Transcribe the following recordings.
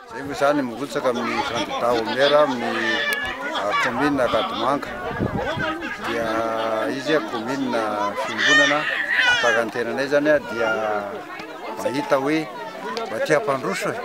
Izay moa izany mirotsaka amin'ny kandidà ho maire amin'ny commune Ankadimanga dia izy commune fiombonana tahaka ny tenanay izany dia mahita hoe mba tia hampandroso e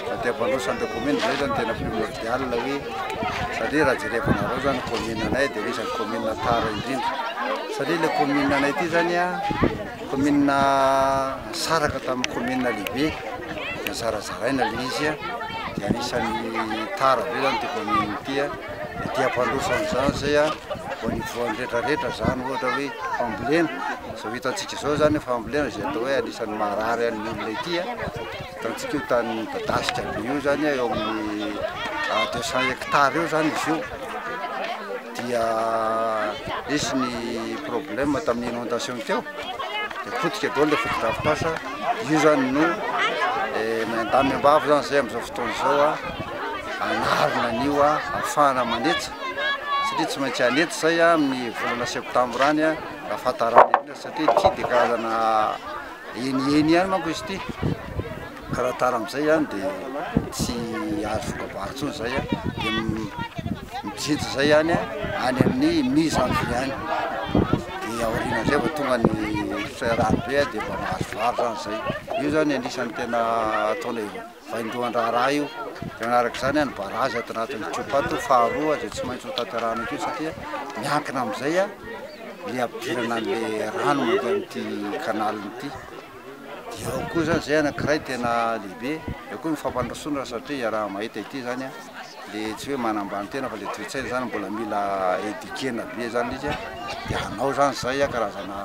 mba tia hampandroso an'ilay commune izay izany tena primordial hoe satria raha jerevanareo izany commune anay dia isan'ny commune tara indrindra satria ilay commune anay ity izany a Kaominina nisaraka tamin'ny kaominina lehibe dia zarazaraina ilay izy dia anisan'ny tara be izany ity kaominina ity dia ety am-pandroso amin'izany izay vao nivoahan'ny rehetrarehetra izany ohatra hoe fambolena, izao hitantsika izao izany ny fambolena izay atao hoe anisan'ny marary an'ny olona ety, hitantsika io tany midadasika be io izany eo amin'ny deux cent hectares eo izany izy io. dia nisy ny problème tamin'ny inondation teo dia potika daholo ilay fotodrafitrasa, io zany no miandahy miambavy zany zay amin'izao fotoana izao hanarina an'io hahafahana manetsa satria tsy maintsy hanetsa izay amin'ny volana septambra any ahafantarana satria ity dia karazana heniheny ihany manko izy ity. Ka raha tara amizay an de tsy azo voka-bary tsony zay an de mijinja zay any an any amin'ny mi janvier any de aoriana zay vao tonga ny firairahany be an de mba mahazo vary zany zay io zany anisan'ny tena ataonay vaindohan-draharaha io de manarak'izany an ny barazy ato anatin'ny tropa ato faharoa zay tsy maintsy ho tanterahana akeo satria miankina amizay an le hampidirana an'le rano mandeha amin'ity canal ity. Dia ao koa izany izay anankiray tena lehibe, eo koa ny fampandrosoana satria iaraha-mahita ity izany an, ilay tsy hoe manambany tena fa ilay toe-tsaina izany mbola mila eduquer-na be izany ilay izy an, dia hanao izany izay an karazana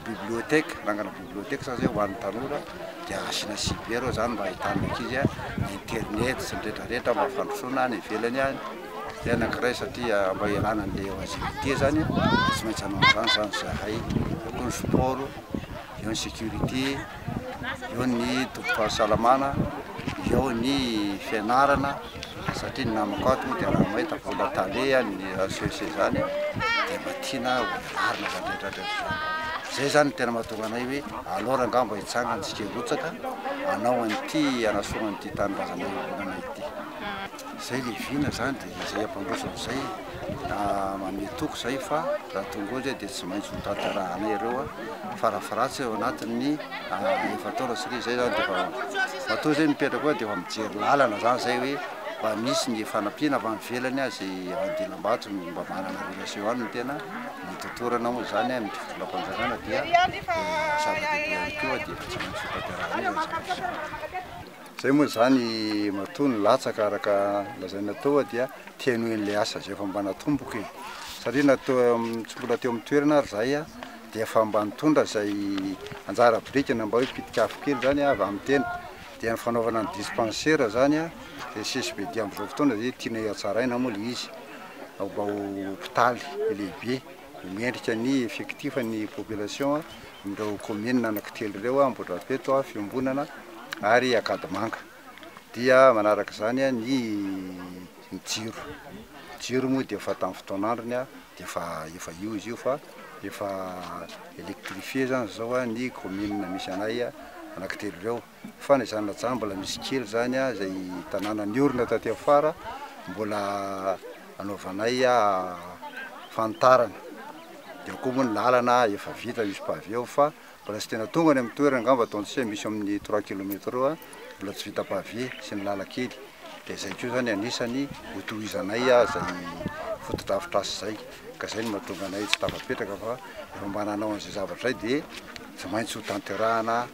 bibliothèque, hanangana bibliothèque izany izay ho an'ny tanora, dia asiana cyber ao izany mba ahitan'ny ankizy an, ny internet sy ny rehetra rehetra mba fandrosoana any ivelany any, izay anankiray satria mba hialana an'ilay lgbt izany an, dia tsy maintsy hanao an'izany izany izahay, eo koa ny sport. eo ny sécurité, eo ny tompom pahasalamana, eo ny fianarana, satria ny namako ato moa dia raha mahita vola tale ny raha seho seho zany dia mba tiana ho velarina zany rehetra rehetra zany, zay zany no tena mahatonga anay hoe aleo rangah mba hitsangana tsika hirotsaka hanao an'ity hanasorana ity tanindrazana iombonana ity. Izay le vina zany de izay ampandroso amzay manome toky zay fa raha tonga eo zay de tsy maintsy ho tantarahanay ireo farafratsy ao anatin'ny efa-taona satria zay zany defa matoa zay mipetraka eo defa mijery lalana zany zay hoe mba misy ny fanampiana avy any ivelany aza i Andilambato no mba manana relation any no tena nitotorana moa zany amin'ny fitondram-panjakana dia zava-dehibe ihany koa dia efa tsy maintsy ho tantarahanay zany zavatra zany. Izay moa izany matoa nilatsaka araka ny lazaina teo dia te hanohy an'ilay asa izay efa mba natomboka e! Satria na tsy mbola teo amin'ny toerana ary izahay dia efa mba nitondra izay anjara biriky na mba hoe pitika afo kely izany avy amin'ny tena dia ny fanaovana ny dispensaire izany izay CSBD amin'izao fotoana izay tianay hatsaraina moa ilay izy mba ho hopitaly lehibe. Mendrika ny effectif ny population amin'ireo communes anaky telo ireo, Ambohidrapeto, Fiombonana ary Ankadimanga. Dia manaraka izany ny ny jiro, ny jiro moa dia efa tamin'ny fotoan'androny dia efa efa io izy io fa efa électrifié izany izao ny communes misy anay anaky telo ireo. Fa na izany na izany mbola misy kely izany izay tanàna niorina taty afara mbola anaovanay fanitarana, dia ao koa moa ny lalana efa vita misy paveo fa mbola tsy tena tonga any amin'ny toerana angamba ataontsika hoe misy eo amin'ny trois kilomètre eo mbola tsy vita pavé sy ny lalan-kely dia izay koa izany anisany ho tohizanay izay fotodrafitrasa izay ka izay no mahatonga anay tsy tafapetraka fa efa mba nanao an'izay zavatra izay dia tsy maintsy ho tanterahina